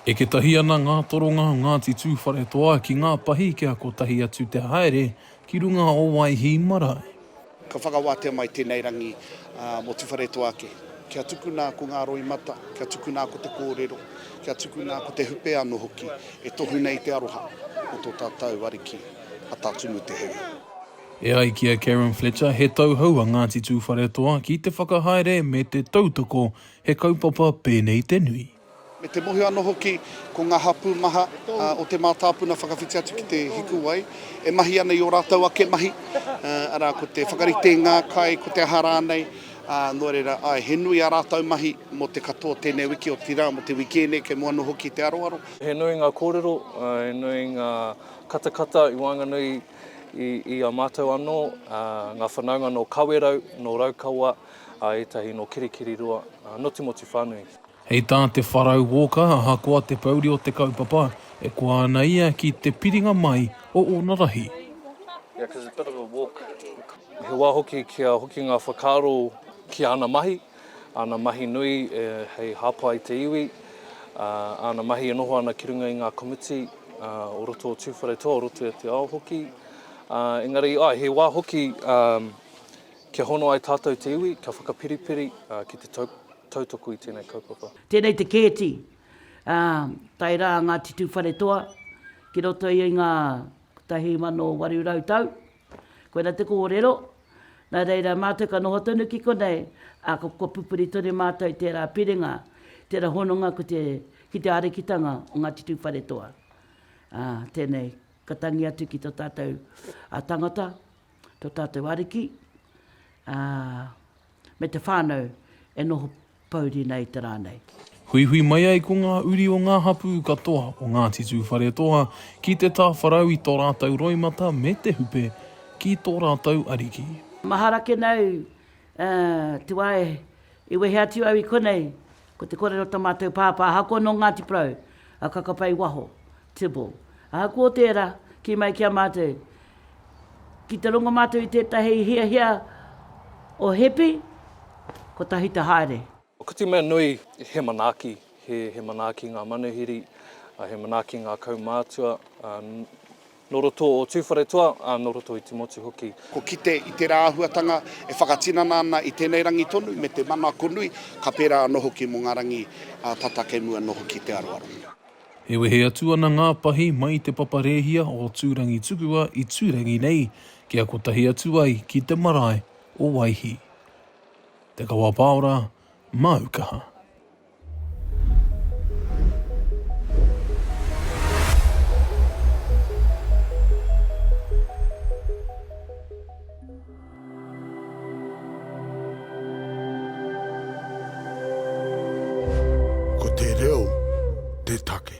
Eke tahi ana ngā toronga o Ngāti Tūwharetoa ki ngā pahi kia kotahi atu te haere ki runga o Waihī marae. Ka whakawātea mai tēnei rangi mō Tuwharetoa ake. Kia tukuna ko ngā roimata, kia tukuna ko te kōrero, kia tukuna ko te hupe anō hoki e tohu nei te aroha o tō tātou ariki a Tā Tumu Te Heuheu. E ai ki a Karen Fletcher, he tauhou a Ngāti Tūwharetoa ki te whakahaere me te tautoko He kaupapa pēnei te nui. Me te mohi anō hoki ko ngā hapū maha o te mātāpuna whakawhiti atu ki te hikuwai e mahi ana i ō rātou ake mahi, arā, ko te whakarite i ngā kai, ko te aha rānei, ā, nō reira, āe, he nui ā rātou mahi mō te katoa tēnei wiki, otirā, mō te wiki ēnei kei mua anō hoki i te aroaro. He nui ngā kōrero, he nui ngā katakata i waenganui i a mātou anō, ngā whanaunga nō Kawerau, nō Raukawa, a ētahi nō Kirikiriroa, nō Timoti whānui. Hei tā Te Wharau Walker, ahakoa te pouri o te kaupapa, e koa ana ia ki te piringa mai o ōna rahi. He wā hoki kia hoki ngā whakaaro ki āna mahi, āna mahi nui hei hāpai i te iwi, āna mahi e noho ana ki runga i ngā komiti o roto o Tūwharetoa, o roto i te ao hoki. Engari, āe, he wā hoki. Kia hono ai tātou te iwi, kia whakapiripiri ki te tautoko i tēnei kaupapa. Tēnei te kēti, ā, tae rā Ngāti Tūwharetoa ki roto i ngā 1800 tau. Koina te kōrero, nā reira mātou ka noho tonu ki konei, ā, ka kua pupuri tonu mātou i tērā piringa, tērā hononga ko te, ki te arikitanga o Ngāti Tūwharetoa. Ā, tēnei, ka tangi atu ki tō tātou tangata, tō tātou Ariki, ā, me te whānau e noho pouri nei i te rā nei. Huihui mai ai ko ngā uri o ngā hapū katoa o Ngāti Tūwharetoa ki te tāwharau i tō rātou roimata me te hupe ki tō rātou Ariki. Mahara ake nāu, ā, te wā e, i wehe atu au i konei, ko te kōrero o tō mātou pāpā ahakoa nō Ngāti Porou, a Kakapai waho, Tibble. Ahakoa tērā, kī mai ki a mātou, ki te rongo mātou i tētahi hiahia o Hepi, kotahi te haere. Ko te mea nui, he manaaki, he manaaki ngā manuhiri, he manaaki ngā kaumātua nō roto o Tūwharetoa, ā, nō roto i te motu hoki. Ko kite i tērā āhuatanga e whakatinana ana i tēnei rangi tonu me te manako nui, ka pērā anō hoki mō ngā rangi tata kei mua noa hoki i te aroaro. E wehe atu ana ngā pahi mai i Te Papa Rēhia o Tūrangitukua i Tūrangi nei kia kotahi atu ai ki te marae o Waihī. Te Kawapaora, māu kaha. Ko te reo te take.